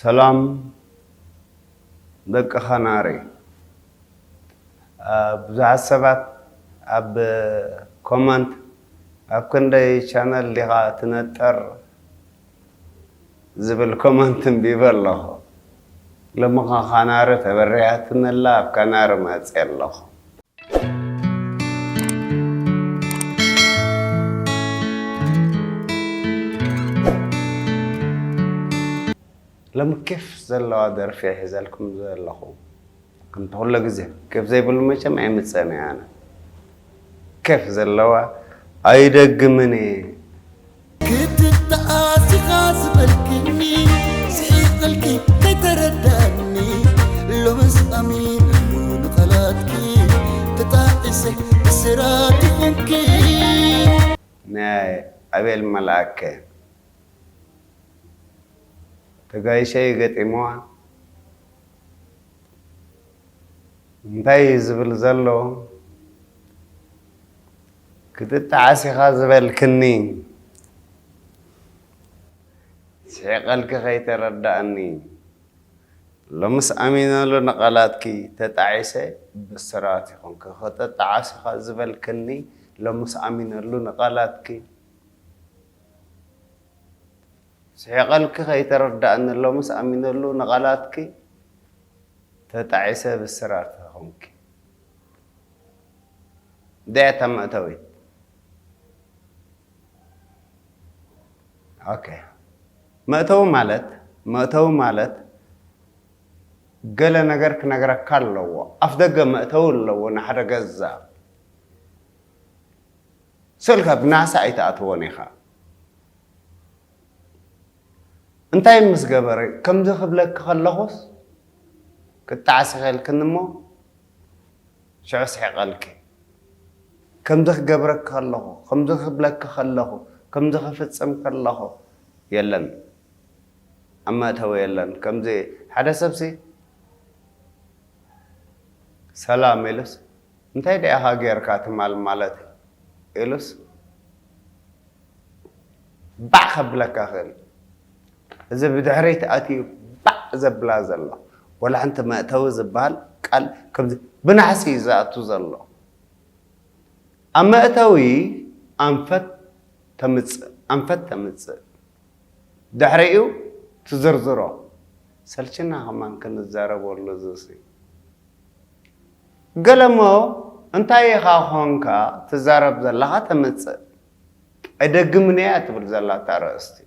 ሰላም ደቂ ኸናሪ ብዙሓት ሰባት ኣብ ኮመንት ኣብ ክንደይ ቻነል ዲኻ ትነጥር ዝብል ኮመንት እንቢበ ኣለኹ። ሎምኻ ካናሪ ተበሪሃትኒ ኣላ ኣብ ካናሪ መጼ ኣለኹ። ሎሚ ኬፍ ዘለዋ ደርፊ እየ ሒዘልኩም ዘለኹ። ኣንታ ኩሎ ግዜ ኬፍ ዘይብሉ መቸም ኣይምጽእን እየ ኣነ ኬፍ ዘለዋ ኣይደግምን እየ። ግድን ተኣሲኻ ዝበልክኒ ስሒቐልኪ ከይተረድኣኒ ሎምስ ኣሚነሉ ንቓላትኪ ተጣዒሰ እስራት ይኹንኪ። ናይ ኣቤል መልኣከ። ተጋይሸይ ገጢምዋ እንታይ እዩ ዝብል ዘሎ ክትጠዓስ ኢኻ ዝበልክኒ ስሒቐልኪ ከይተረዳእኒ ሎምስ ኣሚነሉ ንቓላትኪ ተጣዒሰ ብስራት ይኹንኪ ክትጠዓስ ኢኻ ዝበልክኒ ሎምስ ኣሚነሉ ንቓላትኪ ስሒቐልኪ ከይተረዳኣኒ ሎምስ ኣሚነሉ ንቓላትኪ ተጣዒሰ ብስራት ተኾንኪ እንታይ እያ እታ መእተዊት ኦኬ መእተዊ ማለት መእተዊ ማለት ገለ ነገር ክነግረካ ኣለዎ ኣፍ ደገ መእተዊ ኣለዎ ንሓደ ገዛ ስእልካ ብናሳ ኣይትኣትዎን ኢኻ እንታይ ምስ ገበረ ከምዚ ክብለኪ ከለኹስ ክጣዕ ስሒቕልክኒ እሞ ሽዑ ስሒቐልኪ ከምዚ ክገብረኪ ከለኹ ከምዚ ክብለኪ ከለኹ ከምዚ ክፍጽም ከለኹ የለን ኣብ መእተዊ የለን ከምዚ ሓደ ሰብሲ ሰላም ኢሉስ እንታይ ድኣ ኢኻ ጌርካ ትማል ማለተይ ኢሉስ ባዕ ከብለካ ይኽእል እዩ። እዚ ብድሕሪት ኣትዩ ባዕ ዘብላ ዘሎ ዋላ ሓንቲ መእተዊ ዝብሃል ቃል ከምዚ ብናሕሲ እዩ ዝኣቱ ዘሎ። ኣብ መእተዊ ኣንፈት ተምጽእ ኣንፈት ተምጽእ ድሕሪኡ ትዝርዝሮ ሰልችና ከማን ክንዛረበሉ እዚሲ። ገለ'ሞ እንታይ ኢኻ ኮንካ ትዛረብ ዘለኻ ተምጽእ ኣይደግምን'ያ ትብል ዘላ እታ ኣርእስቲ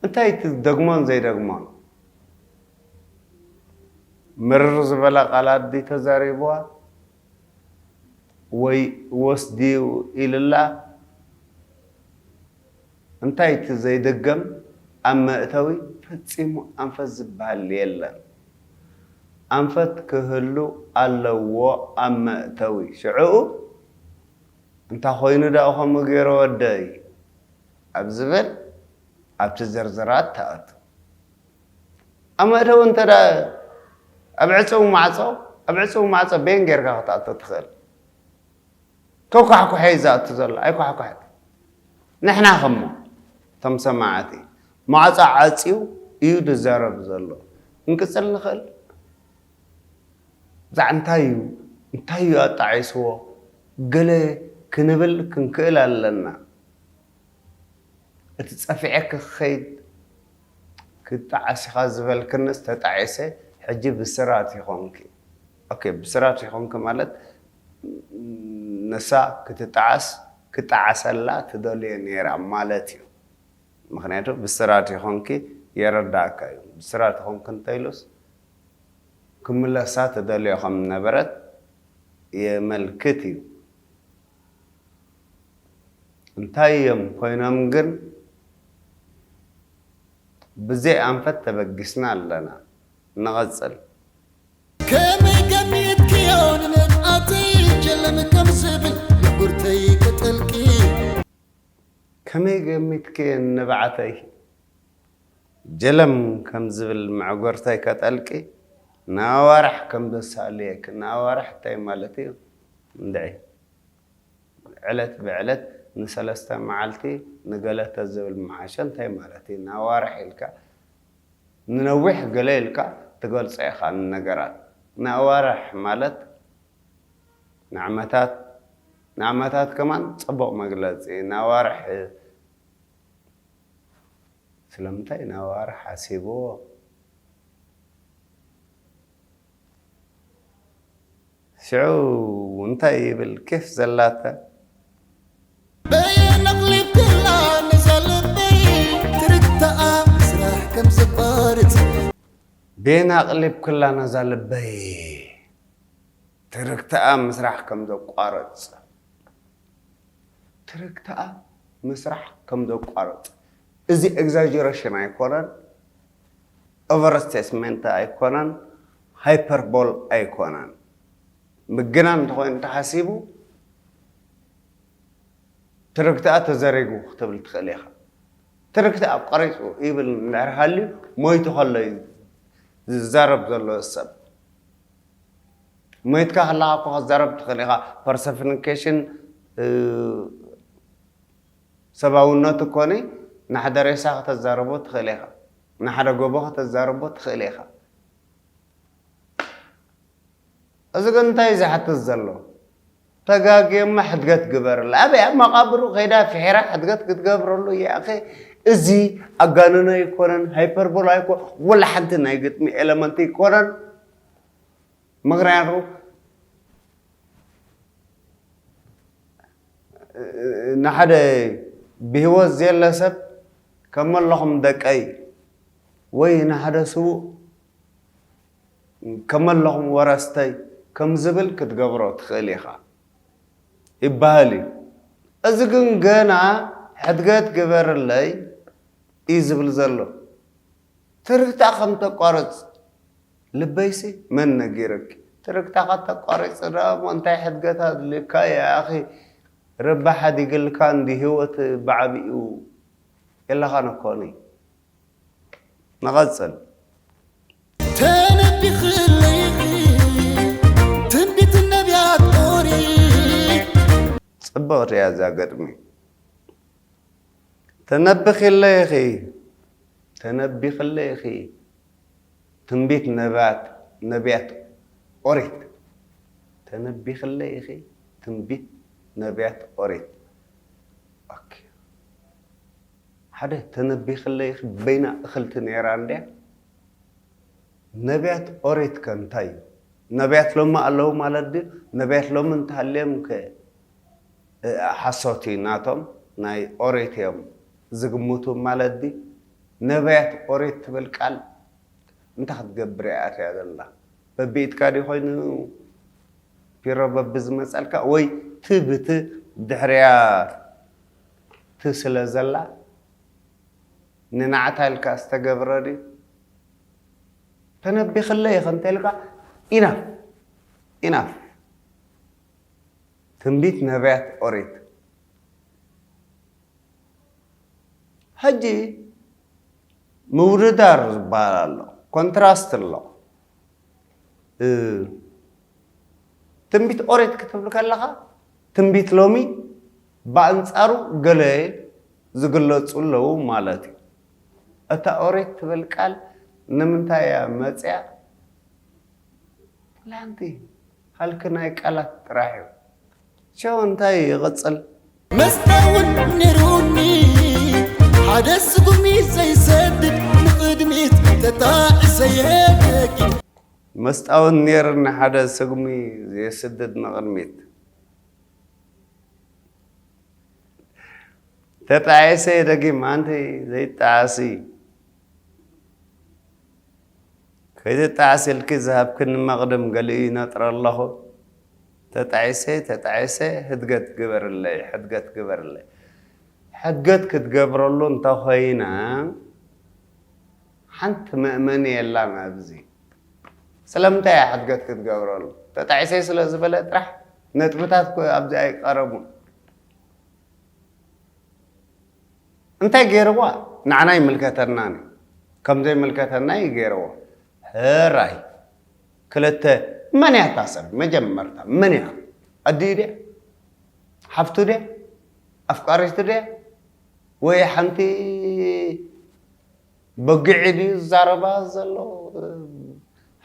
እንታይ እቲ ዝደግሞን ዘይደግሞን ምርር ዝበለ ቃላት ድዩ ተዛሪቡዋ ወይ ወስድዩ ኢሉላ እንታይ እቲ ዘይድገም ኣብ መእተዊ ፈጺሙ ኣንፈት ዝብሃል የለን ኣንፈት ክህሉ ኣለዎ ኣብ መእተዊ ሽዕኡ እንታ ኮይኑ ድኣ ከምኡ ጌረ ወደይ ኣብ ዝብል ኣብቲ ዝርዝራት ትኣቱ ኣብ መእተዊ እንተ ኣብ ዕጽው ማዕጾ ኣብ ዕጽው ማዕጾ በየን ጌርካ ክትኣቱ ትኽእል። ከኳሕኩሐ'ዩ ዝኣቱ ዘሎ ኣይኳሕኳሕትን ንሕና ከሞ እቶም ሰማዕቲ ማዕጾ ዓጽዩ እዩ ዝዛረብ ዘሎ ክንቅጽል ንኽእል ብዛዕ እንታይ እዩ እንታይ እዩ ኣጣዒስዎ ገለ ክንብል ክንክእል ኣለና እቲ ጸፊዐ ክኸይድ ክጣዓስ ኢኻ ዝበልክንስ ተጣዒሰ ሕጂ ብስራት ይኾንኪ። ኦኬ ብስራት ይኹንኪ ማለት ንሳ ክትጣዓስ ክጣዓሰላ ትደልዮ ኔራ ማለት እዩ ምኽንያቱ ብስራት ይኹንኪ የረዳኣካ እዩ ብስራት ይኹንኪ እንተኢሉስ ክምለሳ ትደልዮ ከም ዝነበረት የመልክት እዩ እንታይ እዮም ኮይኖም ግን ብዘይ ኣንፈት ተበጊስና ኣለና። ንቐጽል። ከመይ ገሚትክዮ ንንፍዓተይ ጀለም ከም ዝብል ንቡርተይ ክጥልቂ። ከመይ ገሚትክዮ ንንብዓተይ ጀለም ከም ዝብል መዕጎርተይ ከጠልቂ ንኣዋርሕ ከም ዘሳልየኪ ንኣዋርሕ እንታይ ማለት እዩ እንድዒ ዕለት ብዕለት ንሰለስተ መዓልቲ ንገለተ ዝብል ምሓሸ እንታይ ማለት እዩ ንኣዋርሕ ኢልካ ንነዊሕ ገለ ኢልካ ትገልጾ ኢኻ ንነገራት። ንኣዋርሕ ማለት ንዓመታት ንዓመታት ከማን ጽቡቕ መግለጺ ንኣዋርሕ እዩ። ስለምንታይ ንኣዋርሕ ሓሲብዎ? ሽዑ እንታይ ይብል ኬፍ ዘላተ። በየን ኣቕሊብክላ ነዛ ልበይ ትርታኣ ስራሕ ከምዘቋርጽ። በየን ኣቕሊብክላ ነዛ ልበይ ትርክታኣ ምስራሕ ከምዘቋርጽ። ትርክታኣ ምስራሕ ከምዘቋርጽ እዚ ኤግዛጀረሽን ኣይኮነን ኦቨር ስቴትመንት ኣይኮነን ሃይፐርቦል ኣይኮነን ምግናን እንተኾይኑ ተሓሲቡ ትርክትኣ ተዘሪጉ ክትብል ትኽእል ኢኻ ትርክቲ ኣቋሪጹ ይብል እንድሕር ሃልዩ ሞይቱ ከሎ እዩ ዝዛረብ ዘሎ እዚ ሰብ ሞይትካ ከለኻ እኮ ክትዛረብ ትኽእል ኢኻ ፐርሰፍኒኬሽን ሰባውነት እኮኒ ንሓደ ሬሳ ከተዛርቦ ትኽእል ኢኻ ንሓደ ጎቦ ከተዛርቦ ትኽእል ኢኻ እዚ ግን እንታይ እዩ ዝሓትት ዘሎ? ተጋግየሞ ሕድገት ግበርላ። ኣበይ ኣብ መቓብሩ ከይዳ ፍሒራ ሕድገት ክትገብረሉ እያ ኣኸ እዚ ኣጋንኖ ኣይኮነን፣ ሃይፐርቦል ኣይኮ ወላ ሓንቲ ናይ ግጥሚ ኤለመንት ኣይኮነን። ምክንያቱ ንሓደ ብህይወት ዘየለ ሰብ ከመለኹም ደቀይ ወይ ንሓደ ስዉእ ከመለኹም ወረስተይ ከም ዝብል ክትገብሮ ትኽእል ኢኻ ይበሃል እዩ። እዚ ግን ገና ሕድገት ግበርለይ እዩ ዝብል ዘሎ። ትርግታ ከም እተቋርጽ ልበይሲ መን ነጊሩኪ? ትርግታኻ እንተቋሪጽ ደኣ እሞ እንታይ ሕድገት ኣድልዩካ እዩ ኣኺ ረባ ሓዲግልካ እንድዩ ህይወት ብዓቢኡ የላኻን እኮ። ንቐጽል። ተነቢኽለይ ትንቢት ነብያት ኦሪት። ጽብቕቲ እያ እዛ ግጥሚ። ተነቢኽለይ ኢኺ ተነቢኽለይ ኢኺ ትንቢት ነብያት ነብያት ኦሪት ተነቢኽለይ ኢኺ ትንቢት ነብያት ኦሪት ኦኬ። ሓደ ተነቢክለይ ኢኪ በይና እክልቲ ነይራ እንድያ ነብያት ኦሪት ከ እንታይ እዩ ነብያት ሎሚ ኣለው ማለት ድዩ ነብያት ሎሚ እንተሃልዮም ከ ሓሶት እዩ ናቶም ናይ ኦሪት እዮም ዝግምቱ ማለት ድዩ ነብያት ኦሪት ትብል ቃል እንታይ ክትገብር እያ ኣትያ ዘላ በቢኢድካ ድዩ ኮይኑ ፒሮ በብዝመጸልካ ወይ ትብት ድሕሪያ ትስለ ዘላ ንናዕታ ኢልካ ዝተገብረ ድዩ ተነቢክለይ ኢኪ እንተልካ ኢናፍ ኢናፍ ትንቢት ነብያት ኦሪት ሕጂ ምውድዳር ዝበሃል ኣሎ ኮንትራስት ኣሎ ትንቢት ኦሬት ክትብል ከለኻ ትንቢት ሎሚ ብኣንጻሩ ገለ ዝግለጹ ኣለዉ ማለት እዩ። እታ ኦሪት ትብል ቃል ንምንታይ እያ መጺኣ? ፕላንቲ ሃልኪ ናይ ቃላት ጥራሕ እዩ። ሸው እንታይ ይቕጽል? መስተውን ነይሩኒ ሓደ ስጉሚ ዘይሰድድ ንቕድሚት ተጣዒሰ'የ ደጊም። መስጣወት ኔርኒ ሓደ ስጉሚ ዘይስድድ ንቕድሚት። ተጣዒሰ ደጊም ኣንቲ ዘይጣዓሲ ከይትጣዓሲ ኢልኪ ዝሃብክኒ መቕድም ገሊኡ ይነጥረ ኣለኹ ተጣዒሰ ተጣዒሰ ህድገት ግበርለይ ሕድገት ግበርለይ ሕድገት ክትገብረሉ እንተኾይና ሓንቲ መእመኒ የላን ኣብዚ ስለምንታይ እያ ሕድገት ክትገብረሉ ተጣዒሰ ስለ ዝበለ ጥራሕ ነጥብታት እኮ ኣብዚ ኣይቀረቡን እንታይ ገይርዋ ንዓና ይምልከተናን እዩ ከም ዘይምልከተና እዩ ገይርዎ ሕራይ ክልተ መን እያ እታ ሰብ መጀመርታ መን እያ ኣዲኡ ድያ ሓፍቱ ድያ ኣፍቃሪቱ ድያ ወይ ሓንቲ በጊዒ ድዩ ዝዛረባ ዘሎ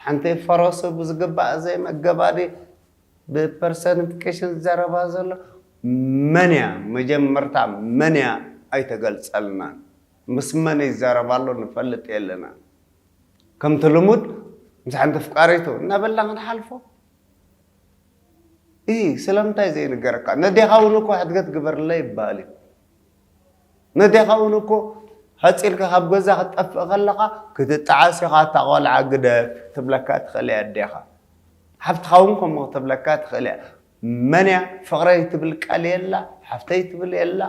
ሓንቲ ፈረሱ ብዝግባእ ዘይመገባ ድዩ ብፐርሰንትኬሽን ዝዛረባ ዘሎ መን እያ መጀመርታ መን እያ ኣይተገልጸልናን ምስ መን ይዛረባ ኣሎ ንፈልጥ የለናን ከምቲ ልሙድ ምስ ሓንቲ ፍቃሪቱ እናበልና ክንሓልፎ እሂ ስለምንታይ ዘይንገረካ ነዴኻ እውን እኮ ሕድገት ግበርለይ ይበሃል እዩ ነዴኻ ውን እኮ ሐጺርካ ካብ ገዛ ክትጠፍእ ከለኻ ክትጣዓስ ኢኻ እታ ቆልዓ ግደፍ ክትብለካ ትኽእል እያ ኣዴኻ ሓፍትኻ ውን ከምኡ ክትብለካ ትኽእል እያ መን እያ ፍቅረይ ትብል ቃል የላ ሓፍተይ ትብል የላ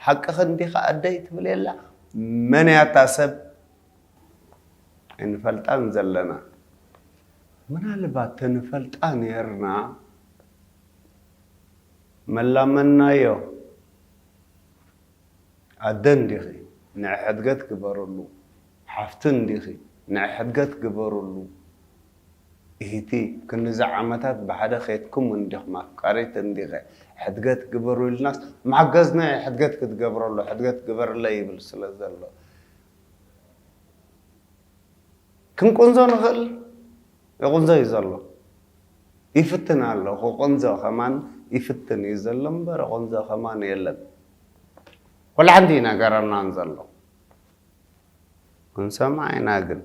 ሓቅኺ እንዲኺ ኣደይ ትብል የላ መን እያ እታ ሰብ ኣይንፈልጣን ዘለና ምናልባት ተንፈልጣ ኔርና መላመናዮ ኣደ እንዲኺ ንዒ ሕድገት ግበርሉ ሓፍቲ እንዲኺ ንዒ ሕድገት ግበርሉ ኢሂቲ ክንድዚ ዓመታት ብሓደ ኬድኩም እንዲኽም ኣፍቃሪት እንዲኺ ሕድገት ግበሩ ኢልናስ ምሓገዝ ንዒ ሕድገት ክትገብረሉ ሕድገት ግበርለይ ይብል ስለ ዘሎ ክንቁንዞ ንኽእል ይቁንዞ እዩ ዘሎ ይፍትን ኣሎ ክቁንዞ ከማን ይፍትን እዩ ዘሎ እምበር ይቁንዞ ከማን የለን ኩላሓንቲ እዩ ነገረናን ዘሎ ክንሰምዓ ኢና ግን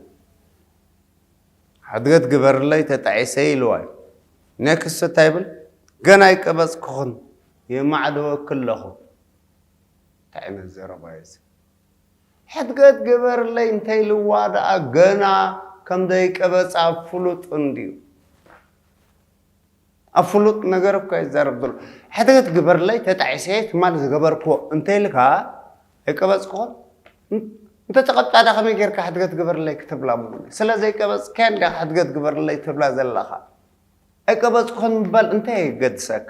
ሕድገት ግበርለይ ተጣዒሰ ኢልዋ እዩ ኔክስት እንታይ ይብል ገና ኣይቀበፅኩኹን የማዕደወኪ ኣለኹ እንታይ ዓይነት ዘረባ እዩ እዚ ሕድገት ግበርለይ እንተኢልዋ ደኣ ገና ከም ዘይቀበጸ ኣብ ፍሉጥ እንድዩ። ኣብ ፍሉጥ ነገር እኳ ይዛረብ ዘሎ። ሕድገት ግበርለይ ተጣዒሰየ ትማሊ ዝገበርክዎ እንተኢልካ ኣይቀበጽክዎን? እንተተቐብጻዳ ከመይ ጌርካ ሕድገት ግበርለይ ክትብላ እሞ ስለ ዘይቀበጽካያ እንዲኻ ሕድገት ግበርለይ ትብላ ዘለኻ። ኣይቀበጽኩን ምባል እንታይ የገድሰካ?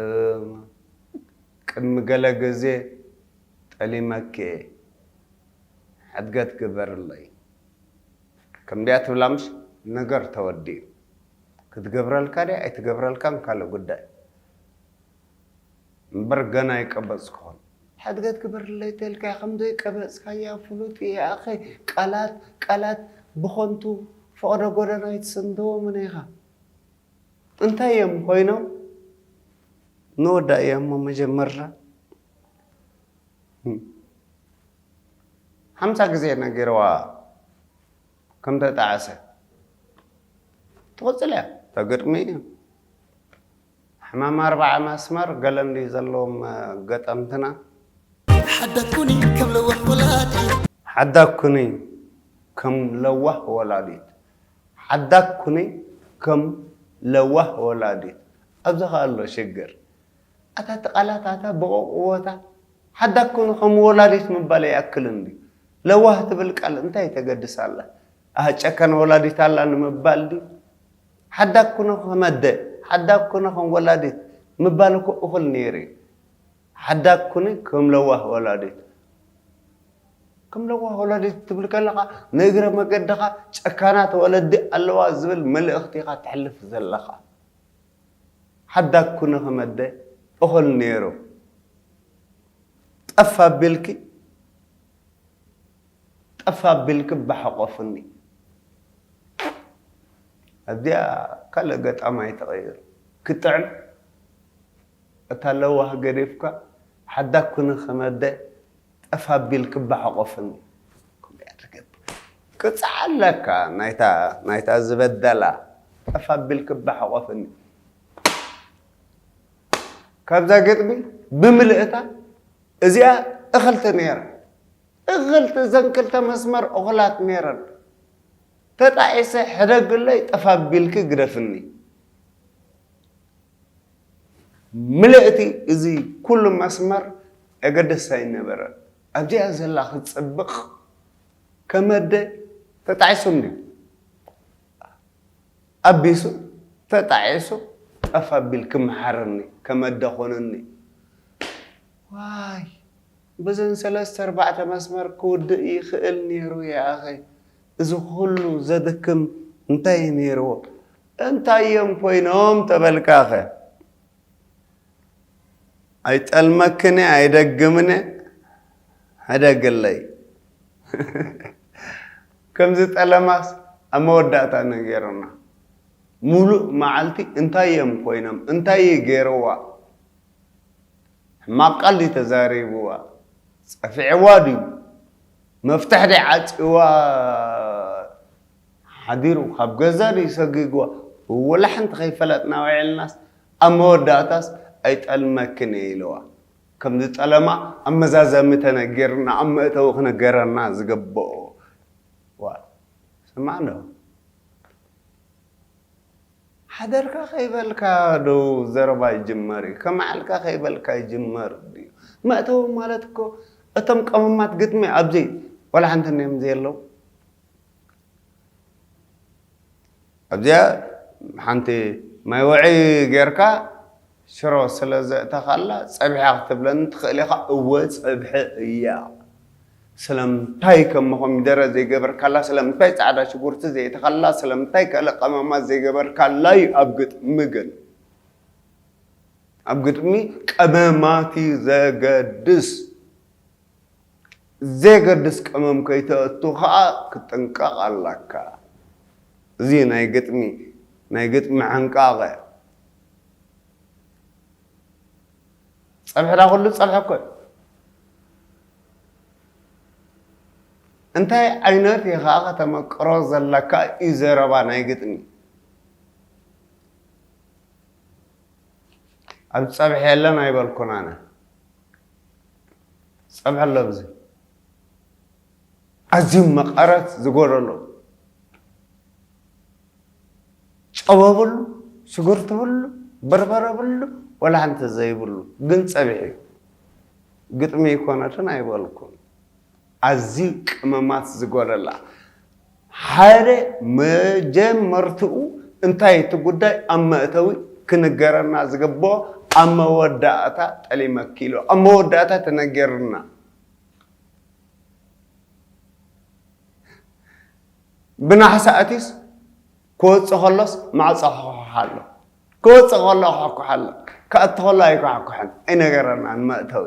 እም ቅድሚ ገለ ግዜ ጠሊመኪ እየ ሕድገት ግበርለይ ከምድያ ትብላ ምሽ ነገር ተወዲኡ ክትገብረልካ ድያ ኣይትገብረልካን ካልእ ጉዳይ እምበር ገና ኣይቀበጽኩኹን ሕድገት ግበርለይ ተልካያ ከምዘይ ቀበጽካያ ፍሉጥ እየ ኣኸ ቃላት ቃላት ብኾንቱ ፈቕዶ ጎደና ኣይትስንትዎምን ኢኻ እንታይ እዮም ኮይኖም ንወዳእያ እሞ መጀመርታ ሓምሳ ግዜ ነጊረዋ ከም ተጣዕሰ ትቕፅል እያ ተግጥሚ እዩ ሕማም ኣርባዓ መስመር ገለ እንድዩ ዘለዎም ገጠምትና ሓዳኩኒ ከም ለዋህ ወላዲት ሓዳኩኒ ከም ለዋህ ወላዲት ሓዳግ ኩኒ ከም ለዋህ ወላዲት። ኣብዚ ከኣ ኣሎ ሽግር። ኣታ እቲ ቃላት ኣታ ብቑቕዎታ። ሓዳግ ኩኒ ከም ወላዲት ምባል ኣይኣክልን ድዩ? ለዋህ ትብል ቃል እንታይ ተገድስ ኣላ? ኣህ ጨካን ወላዲት ኣላ ንምባል ድዩ? ሓዳግ ኩኒ ከም ኣደ፣ ሓዳግ ኩኒ ከም ወላዲት ምባል እኮ እኹል ነይሩ እዩ። ሓዳግ ኩኒ ከም ለዋህ ወላዲት። ከም ለዋህ ወላዲት ክትብል ከለኻ ንእግረ መገድኻ ጨካናት ወለዲ ኣለዋ ዝብል መልእኽቲ ኢኻ ተሕልፍ ዘለኻ። ሓዳግ ኩኒ ከም ኣደ እኹል ኔሩ። ጠፍ ኣቢልኪ ጠፍ ኣቢልኪ ባሕቆፍኒ። ኣዚኣ ካልእ ገጣማይ ተቐይሩ ክጥዕም። እታ ለዋህ ገዲፍካ ሓዳግ ኩኒ ከም ኣደ ጠፍ ኣቢል ክባ ሓቆፍኒ ከምኡ እያ ትገብር ቅጽዓ ኣለካ ናይታ ናይታ ዝበደላ ጠፍ ኣቢል ክባ ሓቆፍኒ ካብዛ ግጥሚ ብምልእታ እዚኣ እኽልቲ ነይራ እኽልቲ እዘን ክልተ መስመር እኹላት ነይረን ተጣዒሰ ሕደግለይ ጠፍ ኣቢልኪ ግደፍኒ ምልእቲ እዚ ኩሉ መስመር ኣገደስቲ ኣይነበረን። ኣብዚኣ ዘላ ክትጽብቕ ከመደ ተጣዒሱ እንድዩ። ኣቢሱ ተጣዒሱ ጠፍ ኣቢል ክምሓረኒ ከመደ ኮነኒ። ዋይ በዘን ሰለስተ ኣርባዕተ መስመር ክውድእ ይኽእል ኔሩ ይኣኸ እዚ ኩሉ ዘድክም እንታይ እዩ ኔርዎ። እንታይ እዮም ኮይኖም ተበልካኸ? ኣይጠልመክን'የ ኣይደግምን'የ ሕደግለይ። ከምዚ ጠለማስ ኣብ መወዳእታ ነገሩና። ሙሉእ መዓልቲ እንታይ እዮም ኮይኖም? እንታይ እዩ ገይሩዋ? ሕማቕ ቃል ድዩ ተዛሪቡዋ? ጸፊዕዋ ድዩ? መፍትሕ ድዩ ዓጽዩዋ? ሓዲሩ ካብ ገዛ ድዩ ሰጊግዋ ወላሕ እንተኸይፈለጥና ውዒልናስ ኣብ መወዳእታስ ኣይጠልመክን እየ ኢለዋ ከም ዝጠለማ ኣብ መዛዘሚ ተነጊርና ኣብ መእተዊ ክነገረና ዝገበኦ ዋእ ስማዕ ዶ ሓደርካ ከይበልካ ዶ ዘረባ ይጅመር እዩ ከመዓልካ ከይበልካ ይጅመር ድዩ መእተዊ ማለት እኮ እቶም ቀመማት ግጥሚ ኣብዘይ ወላሕ እንተንዮም ዘየለው ኣብዚኣ ሓንቲ ማይ ወዒ ጌርካ ሽሮ ስለ ዘእተኻላ ጸብሒ ክትብለኒ ትኽእል ኢኻ እወ ጸብሒ እያ ስለምንታይ ከም ኮሚደረ ዘይገበርካላ ስለምንታይ ጻዕዳ ሽጉርቲ ዘየእተኻላ ስለምንታይ ከለ ቀመማት ዘይገበርካላ እዩ ኣብ ግጥሚ ግን ኣብ ግጥሚ ቀመማት እዩ ዘገድስ ዘየገድስ ቀመም ከይተእቱ ከኣ ክትጥንቀቅ ኣላካ እዚ ናይ ግጥሚ ናይ ግጥሚ ሕንቃቀ ጸብሒ ዳኣ ኩሉ ጸብሒ እኮ እዩ እንታይ ዓይነት ኢኻ ከተመቅሮ ዘለካ እዩ ዘረባ ናይ ግጥሚ ኣብ ጸብሒ የለን ኣይበልኩን ኣነ ጸብዐ ኣሎ ኣብዚ ኣዝዩ መቐረት ዝጎደሎ ጨው ብሉ ሽጉርቲ ብሉ በርበረ ብሉ ወላ ሓንቲ ዘይብሉ ግን ጸብሒ እዩ ግጥሚ ይኮነትን ኣይበልኩም ኣዝዩ ቅመማት ዝጎደላ ሓደ መጀመርትኡ እንታይ እቲ ጉዳይ ኣብ መእተዊ ክንገረና ዝግበኦ ኣብ መወዳእታ ጠሊመኪ ኢሉ ኣብ መወዳእታ ተነጊርና ብናሓሰ ኣትዩስ ክወጽእ ከሎስ ማዕጾ ክኳሓ ኣሎ ክወጽእ ከሎ ክኳሓ ኣሎ ክኣቱ ከሎ ኣይኳሕኩሕን ኣይነገረናን መእተዊ